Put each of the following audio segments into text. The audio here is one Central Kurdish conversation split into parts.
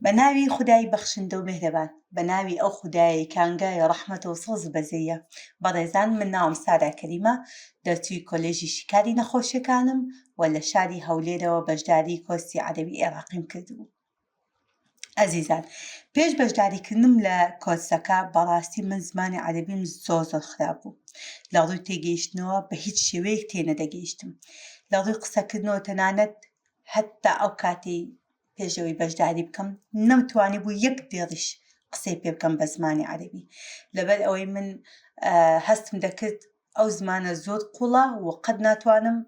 بە ناوی خودای بەخشندە و مێهرەبان بە ناوی ئەو خودایەی کانگای ڕەحمەت و سۆز و بەزەیە بەڕێزان من ناوم سارا کەریمە دەرچووی کۆلێژی شیکاری نەخۆشیەکانم و لە شاری هەولێرەوە بەشداری کۆرسی عەرەوی ئێراقیم کردبوو ئەزیزان پێش بەشداریکردنم لە کۆچەکە بەڕاستی من زمانی عەربیم زۆر زۆر خراپ بوو لە ڕووی تێگەیشتنەوە بە هیچ شێوەیەک تێنەدەگەیشتم لە ڕووی قسەکردنەوە تەنانەت هەتا ئەو کاتی پێش ئەوەی بەژداری بکەم نەمتوانی بوو یەک دێڕیش قسەی پێ بکەم بە زمانی عەربی لەبەر ئەوەی من هەستم دەکرد ئەو زمانە زۆر قوڵە و قەت ناتوانم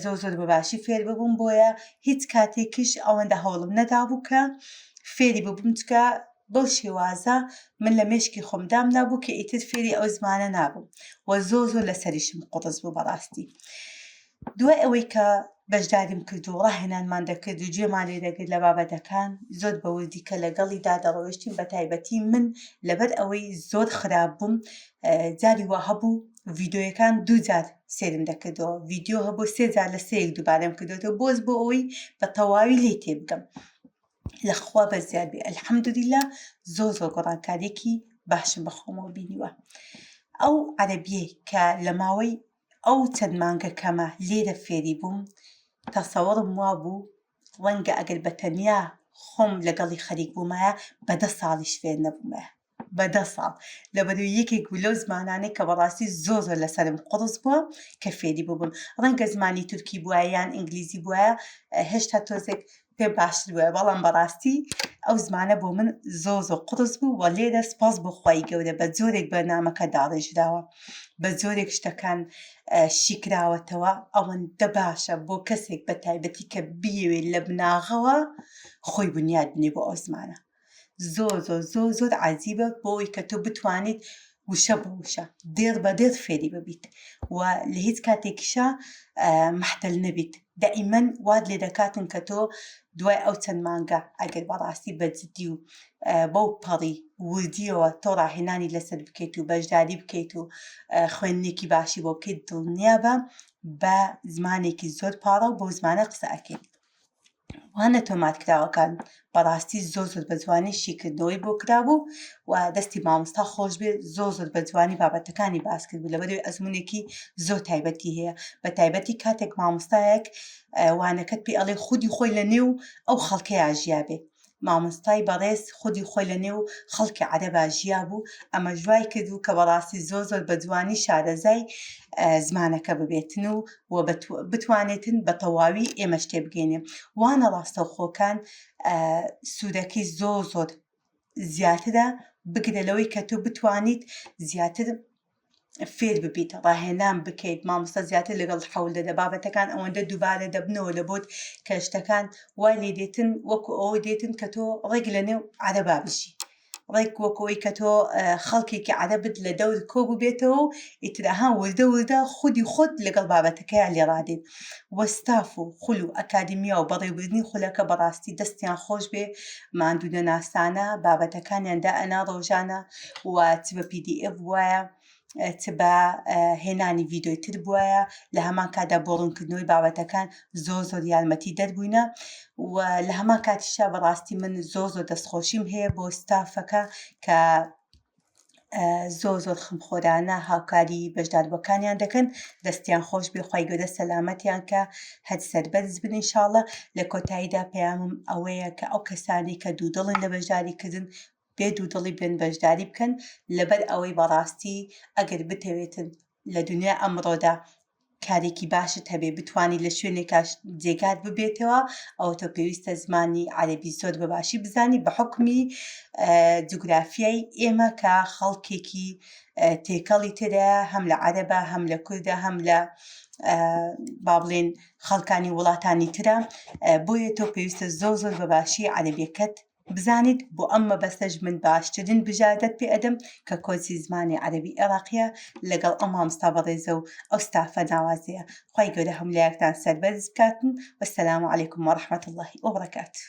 زۆر زۆر بەباشی فێر ببووم بۆیە هیچ کاتێکیش ئەوەندە هەوڵم نەدابوو کە فێری ببووم چکە بەو شێوازە من لە مێشکی خۆم دامنا بوو کە ئیتر فێری ئەو زمانە نابووم و زۆ زۆر لەسەریشم قوڕس بوو بەڕاستی. دوای ئەوەی کە بەشداریم کرد و ڕاهێنانمان دەکرد و گوێمان لێ دەگرت لە بابەتەکان، زۆر بە وردیکە لەگەڵیدا دەڕۆیشتین، بەتایبەتی من لەبەر ئەوەی زۆر خراپ بووم، جاری وا هەبوو ڤیدیۆیەکان دوو جار سێرم دەکردەوە، ڤیدیۆ هەبوو سێ جار لە سێیەک دووبارەم کردووەتەوە، بۆز بۆ ئەوەی بە تەواوی لێی تێبگەم. لە خوا بەس زیاد بێ ئەلحەمدولیلا زۆر زۆر گۆڕانکاریەکی باشم بە خۆمەوە بینیوە. ئەو عەرەبیەی کە لە ماوەی ئەو چەند مانگە کەمە لێرە فێری بووم تەسەوەڕم وابوو ڕەنگە ئەگەر بە تەنیا خۆم لەگەڵی خەریک بوومایە بە دە ساڵیش فێر نەبوومایە بە دە ساڵ لەبەرو یەکێک بوو لەو زمانانەی کە بەڕاستی زۆر زۆر لەسەرم قوڕس بووە کە فێری بووبم ڕەنگە زمانی تورکی بووە یان ئینگلیزی بووە هێشتا تۆزێک پێم باشتر بوایە بەڵام بەڕاستی ئەو زمانە بۆ من زۆ زۆ قڕس بوو وە لێرە سپاس بۆ خی گەورە بە جۆرێک بەرنمەکە داڕێژراوە بە جۆرێک شتەکان شیکراوەتەوە ئەوەندە باشە بۆ کەسێک بە تایبەتی کە بیەوێت لە بناغەوە خۆی بنیاد بنێ بۆ ئەو زمانە زۆر زۆر زۆر زۆر عجیبە بۆی کە تۆ بتوانیت وشە بۆ وشە دێڕ بە دێر فێری ببیت و لە هیچ کاتێکیشە محتل نەبیت دائیمەن واد لێ دەکاتن کە تۆ دوای ئەو چەند مانگە ئەگەر بەڕاستی بەجددی و بەو پەڕی وردیەوە تۆ ڕاهێنانی لەسەر بکەیت و بەشداری بکەیت و خوێندنێکی باشی بۆ بکەیت دڵنیا بە بە زمانێکی زۆر پاڕە و بۆ زمانە قسە ئەکەیت وانە تۆمارکراوەکان بەڕاستی زۆر زۆر بە جوانی شیکردنەوەی بۆ کرابوو و دەستی مامۆستا خۆش بێ زۆر زۆر بە جوانی بابەتەکانی باس کرد بوو لەبەروی ئەزمونێکی زۆر تایبەتی هەیە بە تایبەتی کاتێک مامۆستایەک وانەکەت پێ ئەڵێ خودی خۆی لە نێو ئەو خەڵکەیە ژیابێ مامۆستای بەڕێز خودی خۆی لە نێو خەڵکی عەرەبا ژیابوو ئەمەش وای کردوو کە بەڕاستی زۆر زۆر بە جوانی شارەزای زمانەکە ببێتن و و بتوانێتن بە تەواوی ئێمەش تێبگەینێ وانە ڕاستەوخۆکان سوودەکەی زۆر زۆر زیاترە بگرە لەوەی کە تۆ بتوانیت زیاتر فێر ببیت ڕاهێنان بکەیت مامۆستا زیاتر لەگەڵ حەول دەدە بابەتەکان ئەوەندە دووبارە دەبنەوە لە بۆت کە شتەکان وای لێ دێتن وەکو ئەوە دێتن کە تۆ ڕێک لە نێو عەرەبا بژی ڕێک وەکەوەی کە تۆ خەڵکێکی عەرەبت لە دەور کۆ ببێتەوە و ئیتراها وردە وردە خودی خۆت لەگەڵ بابەتەکەیان لێڕادێت وەستاف و خول و ئەکادیمیا و بەڕێوبردننی خولەکە بەڕاستی دەستیان خۆش بێ ماندوو نەناسانە بابەتەکانیان دا ئەنا ڕۆژانە و چ بە پی دی ئێف بوایە چ بە هێنانی ڤیددیوی تر بوایە لە هەمان کادا بۆ ڕوونکردنەوەی بابەتەکان زۆ زۆر یارمەتی دەربووینە و لە هەمان کاتیشا بەڕاستی من زۆ زۆر دەستخۆشیم هەیە بۆ ستافەکە کە زۆر زۆر خمخۆرانە هاوکاری بەشداربەکانیان دەکەن دەستیان خۆش بێخوای گەدە سەلامەتیان کە هەر سەربەرز بن انشاءله لە کۆتاییدا پەیامم ئەوەیە کە ئەو کەسانی کە دوودڵن لە بەشداریکردن بێ دوودڵی بێن بەشداری بکەن لەبەر ئەوەی بەڕاستی ئەگەر بتەوێتن لە دنیای ئەمڕۆدا کارێکی باشت هەبێ بتانی لە شوێنێکا جێگات ببێتەوە ئەوە تۆ پێویستە زمانی عەربی زۆر بە باشی بزانی بە حکمی جوگرافیای ئێمە کە خەڵکێکی تێکەڵی تێدا هەم لە عەرەبە هەم لە کوردە هەم لە با بڵێن خەڵکانی وڵاتانی ترە بۆیە تۆ پێویستە زۆر زۆر بە باشی عەربیەکەت بزانیت بۆ ئەم مەبەستەش من باشترین بژاردەت پێ ئەدەم کە کۆرسی زمانی عەرەبی عێراقیە لەگەڵ ئەو مامۆستا بەڕێزە و ئەو ستافە ناوازەیە خوای گەورە هەموو لایەکتان سەربەرز بکاتن وەسەلام علیکم وەڕەحمەتوڵڵاهی وەبەڕەکاتوو